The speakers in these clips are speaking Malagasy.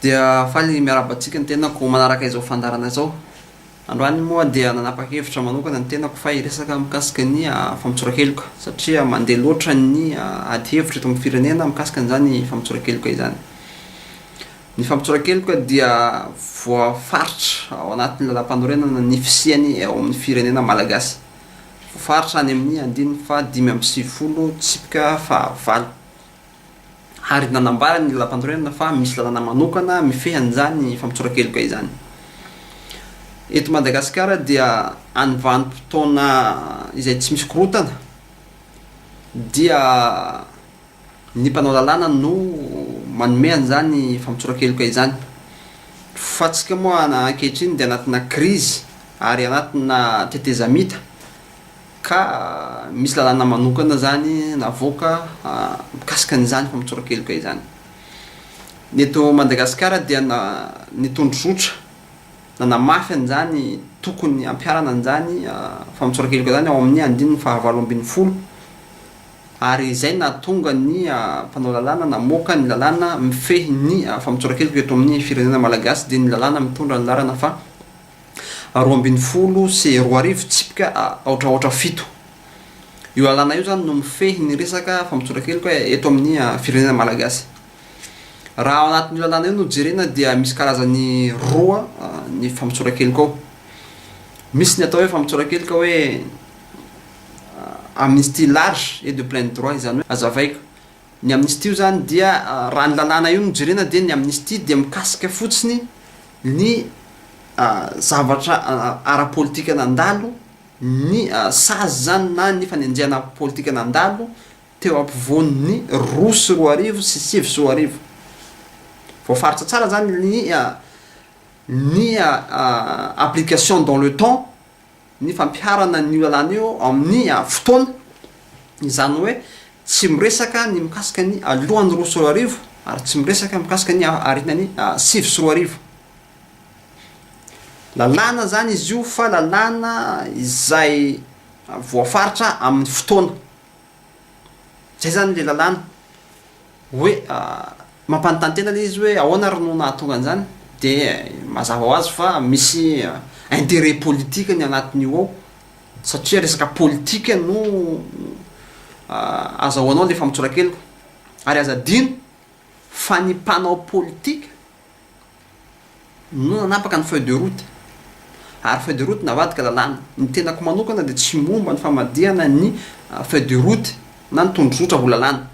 Dia faly miarahaba antsika ny tenako manaraka izao fandaharana izao. Androany moa dia nanapa-kevitra manokana ny tenako fa hiresaka mikasika ny ah, famotsoran-keloka satria mandeha loatra ny ah, ady hevitra eto amin'ny firenena mikasika an'izany famotsoran-keloka izany. Ny fampitora-keloka dia voafaritra ao anatin'ny lalàmpanorenana ny fisiany ao amin'ny firenena malagasy. Voafaritra any amin'ny andininy faha dimy amby sivifolo tsipika faha valo. Ary nanambara ny lalàmpanorenana fa misy lalàna manokana mifehy an'izany fampitora-keloka izany. Eto Madagasikara dia any vanim-potoana izay tsy misy korontana dia. Ny mpanao lalàna no manome an'izany famotsoran-keloka izany. Fa antsika moa ankehitriny dia anatina krizy ary anatina tetezamita ka misy lalàna manokana izany navoaka mikasika an'izany famotsoran-keloka izany. Ny eto Madagasikara dia ny tondrozotra nanamafy an'izany tokony hampiharana an'izany famotsoran-keloka izany ao amin'ny andininy fahavalo ambin'ny folo. ary izay nahatonga ny mpanao lalàna namoaka ny lalàna mifehy ny famotsoran-keloka eto amin'ny firenena malagasy dia ny lalàna mitondra ny laharana faha roa ambin'ny folo sy roa arivo tsipika aotra aotra fito. Io lalàna io izany no mifehy ny resaka famotsoran-keloka eto amin'ny firenena malagasy. Raha ao anatin'io lalàna io no jerena dia misy karazany roa ny famotsoran-keloka ao. Misy ny atao hoe famotsoran-keloka hoe amnistie large et de plein droit izany hoe azavaiko ny amnistie io izany dia raha ny lalàna io no jerena dia ny amnistie dia mikasika fotsiny ny zavatra ara politika nandalo ny sazy izany na ny fanenjehana politika nandalo teo ampovoan'ny roa sy roa arivo sy sivy sy roa arivo voafaritra tsara izany ny ny application dans le temps ny fampiharana an'io lalàna io amin'ny fotoana, izany hoe tsy miresaka ny mikasika ny alohan'ny roa sy roa arivo ary tsy miresaka mikasika ny aorianan'ny sivy sy roa arivo. Lalàna izany izy io fa lalàna izay voafaritra amin'ny fotoana. Zay zany le lalàna. Hoe mampanontany tena le izy hoe ahoana ary no nahatonga an'zany? De mazava ho azy fa misy intérêt politique ny agnatiny io ao satria resaka politique no azahoanao le famotsoran-keloka. Ary aza adino fa ny mpanao politika. no nanapaka ny feuille de route ary feuille de route navadika lalàna. Ny tenako manokana dia tsy momba ny famadihana ny feuille de route na ny tondrozotra ho lalàna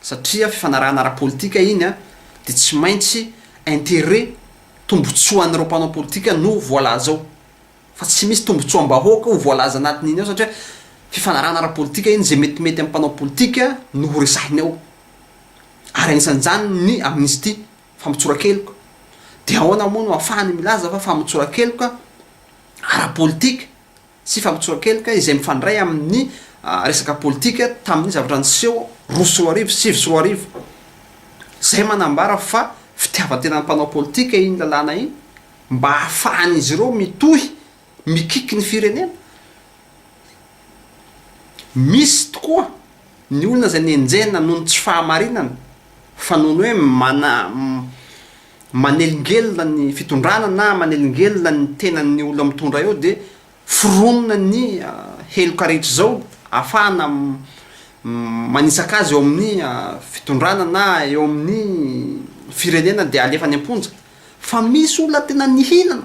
satria fifanarahana ara-politika iny dia tsy maintsy intérêt, tombotsoan'ireo mpanao politika no voalaza ao fa tsy misy tombotsoam-bahoaka ho voalaza anatin'iny ao satria fifanarahana ara-politika iny, izay metimety amin'ny mpanao politika no horesahiny ao. ary anisan'izany ny amnistia, famotsoran-keloka. Dia ahoana moa no ahafahany milaza fa famotsoran-keloka ara-politika sy famotsoran-keloka izay mifandray amin'ny resaka politika tamin'ny zavatra niseho roa sy roa arivo, sivy sy roa arivo. Izay manambara fa fitiavan-tenan'ny mpanao politika iny lalàna iny mba hahafahan'izy ireo mitohy. mikiky ny firenena. Misy tokoa ny olona izay nenjehina noho ny tsy fahamarinana fa noho ny hoe mana manelingelina ny fitondrana na manelingelina ny tenan'ny olona mitondra eo dia foronina ny heloka rehetra izao afahana manitsaka azy eo amin'ny fitondrana na eo amin'ny firenena dia alefa any am-ponja fa misy olona tena nihinana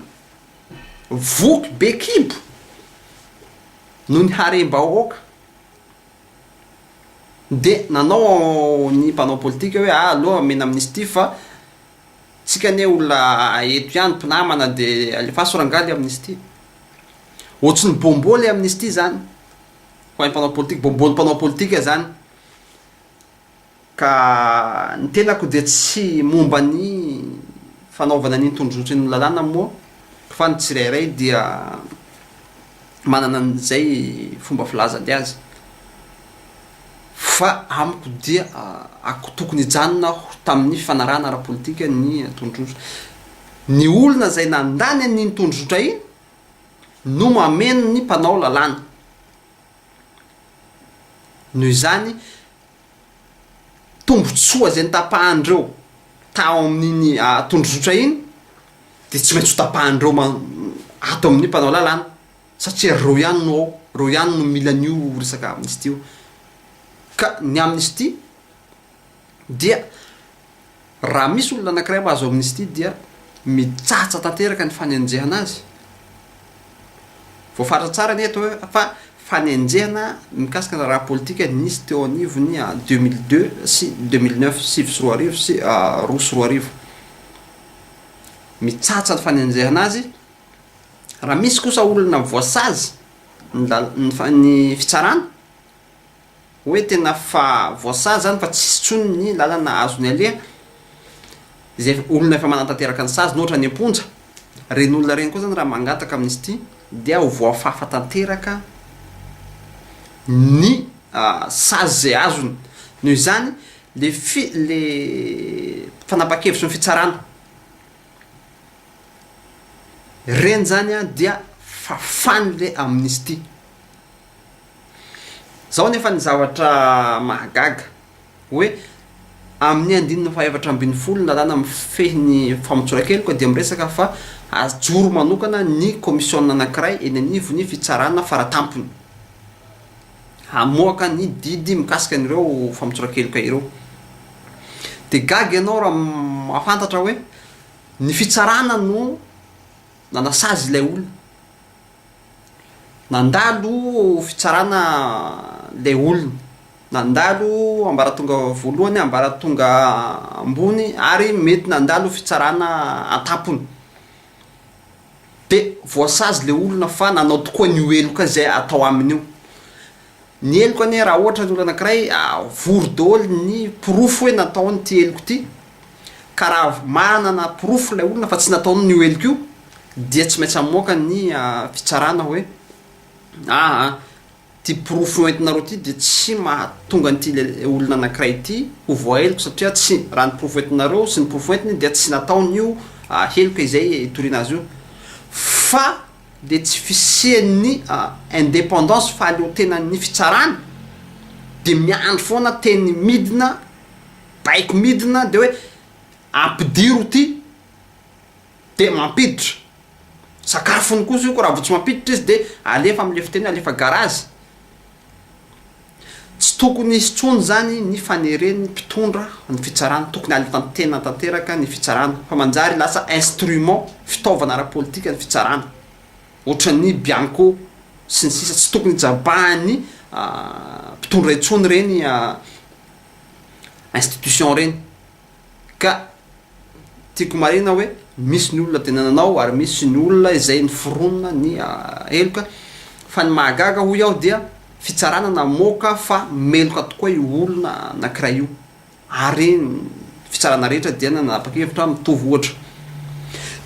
Voky be kibo noho ny harem-bahoaka dia nanao ny mpanao politika hoe ah aleo amena amnistie fa tsika anie olona eto ihany mpinamana dia alefaso rangahy le amnistie. Ohatsin'ny bonbon le amnistie zany ho an'ny mpanao politika, bonbon ny mpanao politika zany. Ka ny tenako dia tsy momba ny fanaovana ny tondrotry ny lalàna moa fa ny tsirairay dia manana an'izay fomba filazany azy fa amiko dia ako tokony hijanona aho tamin'ny fanarahana ara-politika ny tondrotra. Ny olona izay nandany an'iny tondrotra iny no mameno ny mpanao lalàna. Noho izany, tombontsoa izay notapahan'ireo tao amin'iny tondrozotra iny dia tsy maintsy hotapahan'ireo man- ato amin'ny mpanao lalàna satria ry reo ihany no ao, reo ihany no mila an'io resaka amnistie io. Ka ny amnistie. dia raha misy olona anankiray mahazo amnistia dia mitsatsa tanteraka ny fanenjehana azy. Voafaritra tsara anie eto fa fanenjehana mikasika ny raharaha politika nisy teo anivon'ny deux mille deux sy deux mille neuf, sivy sy roa arivo sy roa sy roa arivo. Mitsatsa ny fanenjehana azy. Raha misy kosa olona voasazy ny lal- ny fa- ny fitsarana, Hoe tena fa voasazy zany fa tsisy tsony ny lalana azony aleha, izay olona efa manantanteraka ny saziny ohatra any amponja, reny olona reny koa zany raha mangataka amnistie dia ho voafafa tanteraka ny sazy izay azony, noho izany le fi, le fanapakevitry ny fitsarana reny zany dia fafany le amnistie Izao anefa ny zavatra mahagaga, hoe amin'ny andininy fahaefatra ambin'ny folo ny lalàna mifehy ny famotsoran-keloka dia miresaka fa ajoro manokana ny kaomisiona anankiray eny anivon'ny fitsarana faratampony hamoaka ny didy mikasika an'ireo famotsoran-keloka ireo. Dia gaga ianao raha mahafantatra hoe ny fitsarana no nanasazy ilay olona. Nandalo fitsarana ilay olona, nandalo ambaratonga voalohany, ambaratonga ambony ary mety nandalo fitsarana an-tampony. Dia voasazy ilay olona fa nanao tokoa ny ho heloka izay atao aminy io. Ny heloka anie raha ohatra ny olona anankiray vory daholo ny porofo hoe nataony ity heloka ity ka raha manana porofo ilay olona fa tsy nataony io heloka io dia tsy maintsy hamoaka ny fitsarana hoe aa ity porofo hoentinareo ity dia tsy mahatonga an'ity olona anankiray ity ho voaheloka satria tsy raha ny porofo hoentinareo sy ny porofo hoentiny dia tsy nataony io heloka izay hitoriana azy io fa le tsy fisian'ny independance fahaleotenan'ny fitsarana de miandry foana teny midina baiko midina de hoe ampidiro ty de mampiditra sakafony kosa io ko raha vao tsy mampiditra izy de alefa amle fiteny alefa garazy. Tsy tokony hisy intsony izany ny faneren'ny mpitondra ny fitsarana, tokony halitantena tanteraka ny fitsarana fa manjary lasa instrument, fitaovana ara-politika ny fitsarana, ohatran'ny bianco sy ny sisa Tsy tokony hijabahan'ny mpitondra intsony ireny institution ireny. Ka tiako marihina hoe misy ny olona tena nanao ary misy ny olona izay niforonina ny heloka fa ny mahagaga hoy aho dia fitsarana namoaka fa meloka tokoa io olona anankiray io ary ny fitsarana rehetra dia nanapa-kevitra mitovy ohatra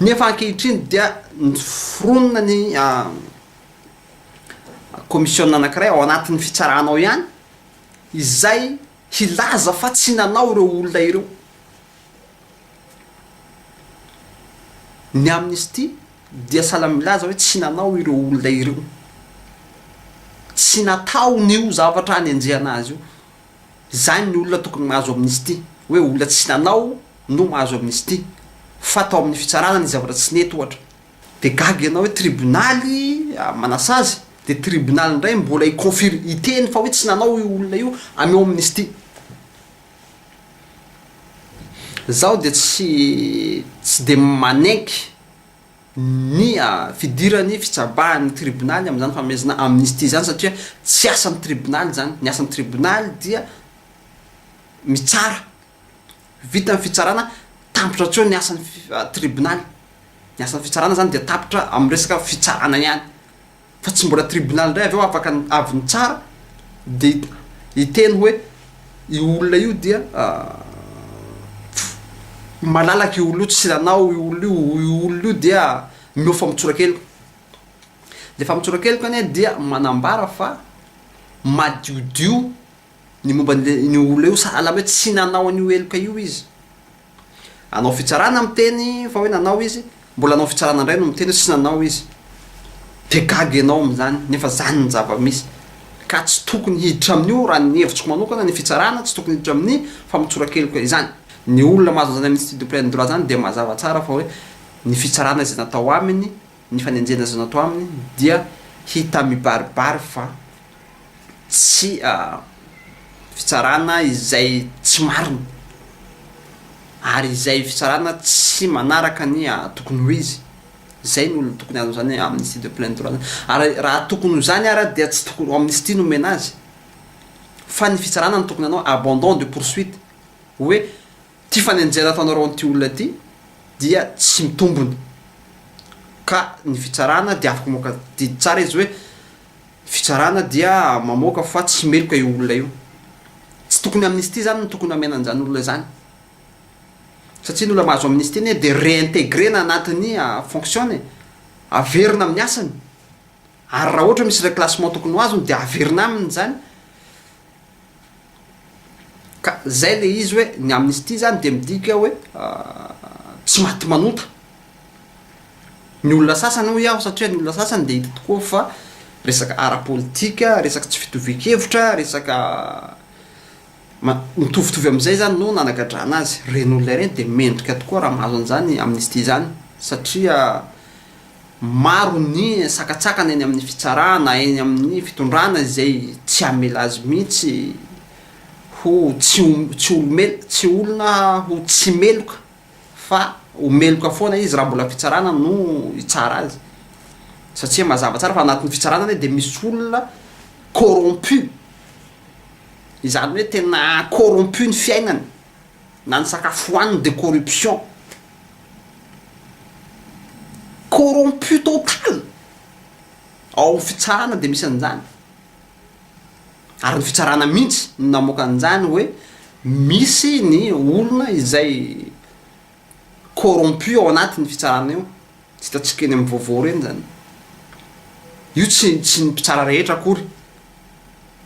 nefa ankehitriny dia niforonina ny komisiona anankiray ao anatin'ny fitsarana ao ihany izay Hilaza fa tsy nanao ireo olona ireo ny Amnesty dia sahala amin'ny milaza hoe tsy nanao ireo olona ireo. Tsy nataony io zavatra anenjehana azy io. Izany ny olona tokony mahazo Amnesty, hoe olona tsy nanao no mahazo Amnesty, fa tao amin'ny fitsarana nisy zavatra tsy nety ohatra. Dia gaga ianao hoe tribonaly manasazy, dia tribonaly indray mbola hi-confir, hiteny fa hoe tsy nanao io olona io, ameo amnistie. Izaho dia tsy, tsy dia manenky ny fidiran'ny fitsabahan'ny tribonaly amin'izany fanomezana amnistie izany satria tsy asan'ny tribonaly izany, ny asan'ny tribonaly dia mitsara Vita ny fitsarana, tapitra hatreo ny asan'ny tribonaly. Ny asan'ny fitsarana izany dia tapitra amin'ny resaka fitsarana ihany. Fa tsy mbola tribonaly indray avy eo afaka avy nitsara dia hiteny hoe io olona io dia malalaka io olona io, tsy nanao io olona io, io olona io dia mihoa famontsoran-keloka. Ilay famontsoran-keloka anie dia manambara fa madiodio. Ny momba an'io olona io, sahala amin'ny hoe tsy nanao an'io heloka io izy. Anao fitsarana miteny fa hoe nanao izy, mbola anao fitsarana indray no miteny hoe tsy nanao izy. Dia gaga ianao amin'izany, nefa izany ny zava-misy. Ka tsy tokony hiditra amin'io, raha ny hevitriko manokana, ny fitsarana, tsy tokony hiditra amin'ny famotsora-keloka izany. Ny olona mahazo an'izany amin'ity diplain'ny droit izany dia mazava tsara fa hoe ny fitsarana izay natao aminy, Ny fanenjehana izay natao aminy dia hita mibaribary fa tsy fitsarana izay tsy marina ary izay fitsarana tsy manaraka ny tokony ho izy. Izay no tokony azony izany amnistie de plein droit izany. Ary raha tokony ho izany ara dia tsy tokony ho amnistie no omena azy fa ny fitsarana no tokony hanao abandon de poursuite hoe Ity fanenjehana ataonareo an'ity olona ity dia tsy mitombona. Ka ny fitsarana dia afaka mamoaka, didy tsara izy hoe ny fitsarana dia mamoaka fa tsy meloka io olona io. Tsy tokony amnistie izany no tokony hamena an'izany olona izany. Satria ny olona mahazo amnistie anie dia reintegrer-na anatin'ny fonction-ny e. Averina amin'ny asany. Ary raha ohatra misy reclassement tokony ho azony dia averina aminy izany. Ka zay le izy hoe ny amnistie zany dia midika hoe tsy maty manota ny olona sasany hoy aho satria ny olona sasany dia hita tokoa fa resaka ara-politika, resaka tsy fitovian-kevitra, resaka mitovitovy amin'izay zany no nanagadrana azy, ireny olona ireny dia mendrika tokoa raha mahazo an'izany amnistie zany satria Maro ny sakantsakana eny amin'ny fitsarana na eny amin'ny fitondrana izay tsy hamela azy mihitsy ho tsy tsy olo-melo, tsy olona ho tsy meloka fa ho meloka foana izy raha mbola fitsarana no hitsara azy satria mazava tsara fa anatin'ny fitsarana anie dia misy olona corrompu, izany hoe tena corrompu ny fiainany. na ny sakafo hohaniny de corruption, corrompu total ao amin'ny fitsarana de misy an'izany, ary ny fitsarana mihintsy no namoaka an'izany hoe misy ny olona izay corrompu ao anatin'ny fitsarana io, tsy hitantsika eny amin'ny vaovao ireny izany, io tsy tsy ny mpitsara rehetra akory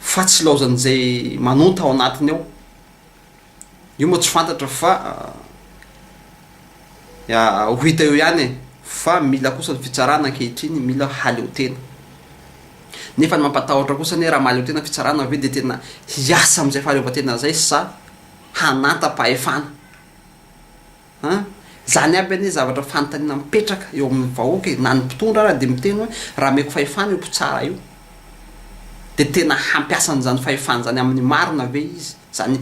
fa tsy ilaozan'izay manonta ao anatiny ao. Io moa tsy fantatra fa ho hita eo ihany e! Fa mila kosa ny fitsarana ankehitriny, mila haleo tena. Nefa ny mampatahotra kosa anie raha mahaleo tena fitsarana ve dia tena hiasa amin'izay fahaleovantena izay sa hananta-pahefana? An! Izany aby anie zavatra fanontaniana mipetraka eo amin'ny vahoaka e! Na ny mpitondra ary dia miteny hoe raha ameko fahefana io mpitsara io dia tena hampiasa an'izany fahefany izany amin'ny marina ve izy? Izany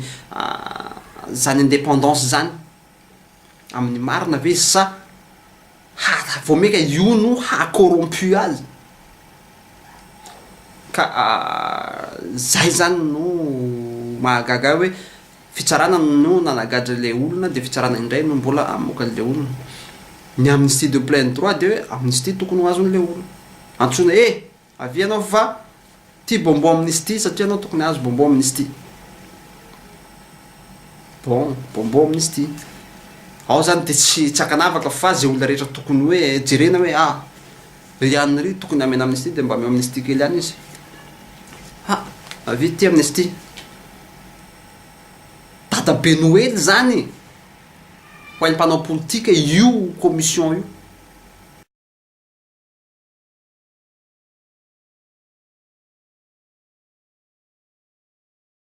izany indépendance izany amin'ny marina ve izy sa ha- vao mainka io no haha corrompu azy? Ka izay izany no mahagaga ahy hoe Fitsarana no nanagadra ilay olona dia fitsarana indray no mbola hamoaka an'ilay olona. Ny amnistie de plein droit dia hoe amnistie tokony ho azon'ilay olona. Antsoina eh! Avia ianao fa tia bonbon amnistie satria ianao tokony hahazo bonbon amnistie. Bon, bonbon amnistie. Ao izany dia tsy tsy ankanavaka fa izay olona rehetra tokony hoe jerena hoe ah! Ry ihany ry tokony hamena amnistie dia mba ameo amnistie kely ihany izy. Ha! Avia ity amnistie. dadabe noely zany ho an'ny mpanao politika io commission io.